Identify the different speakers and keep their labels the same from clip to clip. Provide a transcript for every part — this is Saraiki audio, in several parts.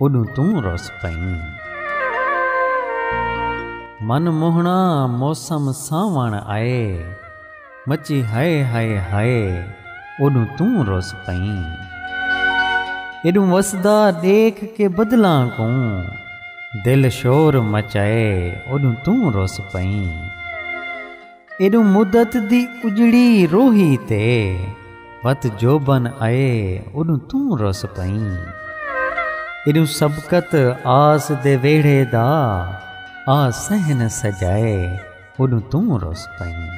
Speaker 1: اوݙوں توں رس پئیں۔ من موہݨا موسم سانوݨ آئے۔ مچی ہائے ہائے ہائے اوݙوں توں رس پئیں۔ ایݙوں وسدا ݙیکھ کے بدلاں کوں۔ دل شور مچائے اوݙوں توں رس پئیں۔ ایݙوں مدت دی اجڑی روہی تے وت جوبن آئے اوݙوں توں رس پئیں ایݙوں سبقت آس دے ویڑھے دا آ صحن سجائے اوݙوں توں رس پئیں۔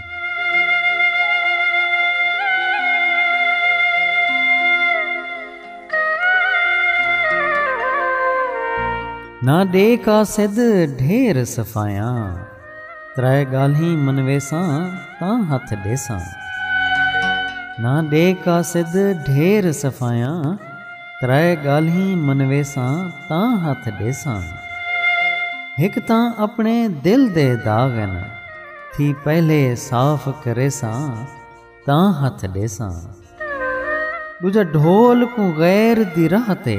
Speaker 1: نہ ݙے قاصد ڈھیر صفایاں۔ ترائے ڳالھیں منویساں تاں ہتھ ݙیساں۔ نہ ݙے قاصد ڈھیر صفایاں ترائے ڳالھیں منویساں تاں ہتھ ݙیساں۔ ہک تاں اپݨے دل دے داغ ہن تھی پہلے صاف کریساں تاں ہتھ ݙیساں۔ ݙوجھا ڈھول کوں غیر دی راہ تے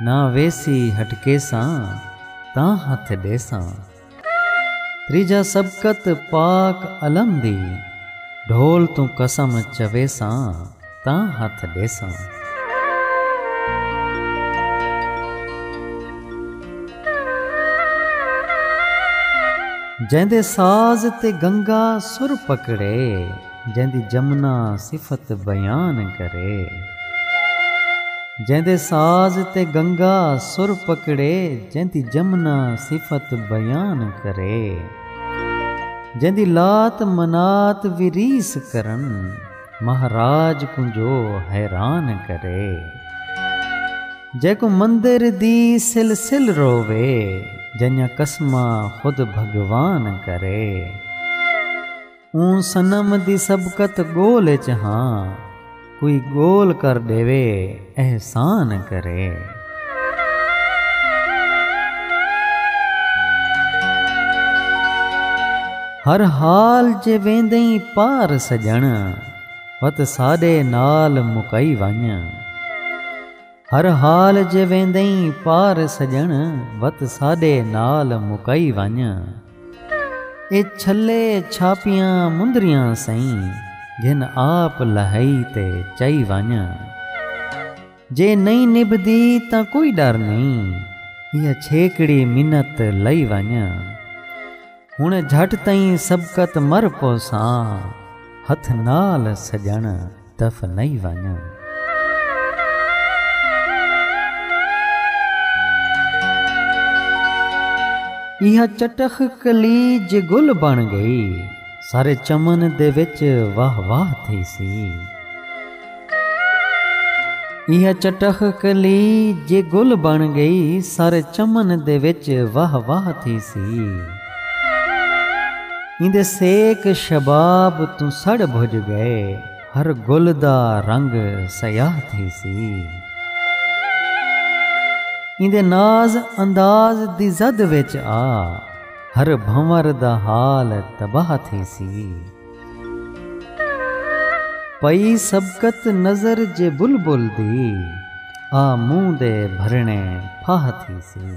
Speaker 1: نہ ویسی ہٹکیساں تاں ہتھ ݙیساں۔ تریجھا سبقت پاک علم دی ڈھول توں قسم چویساں تاں ہتھ ڈیساں۔ جیندے ساز تے گنگا سر پکڑے۔ جیندی جمنا صفت بیان کرے۔ جیندے ساز تے گنگا سر پکڑے۔ جیندی جمنا صفت بیان کرے۔ جیندی لات منات وی ریس کرن۔ مہاراج کوں جو حیران کرے۔ جیکوں مندر دی سل سل رووے۔ جئیاں قسماں خود بھگوان کرے۔ اوں صنم دی سبقت گول اچ ہاں کوئی گول کر ݙیوے احسان کرے۔ ہر حال جے ویندئیں پار سڄݨ وت ساݙے نال مکائی ونڄ۔ ہر حال جے ویندئیں پار سڄݨ وت ساݙے نال مکائی ونڄ اے چھلے چھاپیاں مندریاں سئیں گھن آپ لہائی تے چائی ونڄ جے نئیں نبھدی تاں کوئی ݙر نئیں ایہا چھیکڑی منت لائی ونڄ ہݨ جھٹ تئیں سبقت مر پوساں ہتھ نال سڄݨ دف نئیں وانجاں۔ ایہا چٹخ کلی جے گل بݨ ڳئی۔ سارے چمن دے وچ واہ واہ تھیسی۔ ایہا چٹخ کلی جے گل بݨ ڳئی۔ سارے چمن دے وچ واہ واہ تھیسی۔ ایندے سیک شباب توں سڑ بھج گئے ہر گل دا رنگ سیاہ تھیسی ایندے ناز انداز دی زد وچ آ ہر بھنور دا حال تباہ تھیسی پئی سبقت نظر جے بلبل دی آ منہ دے بھرنے پھاہ تھیسی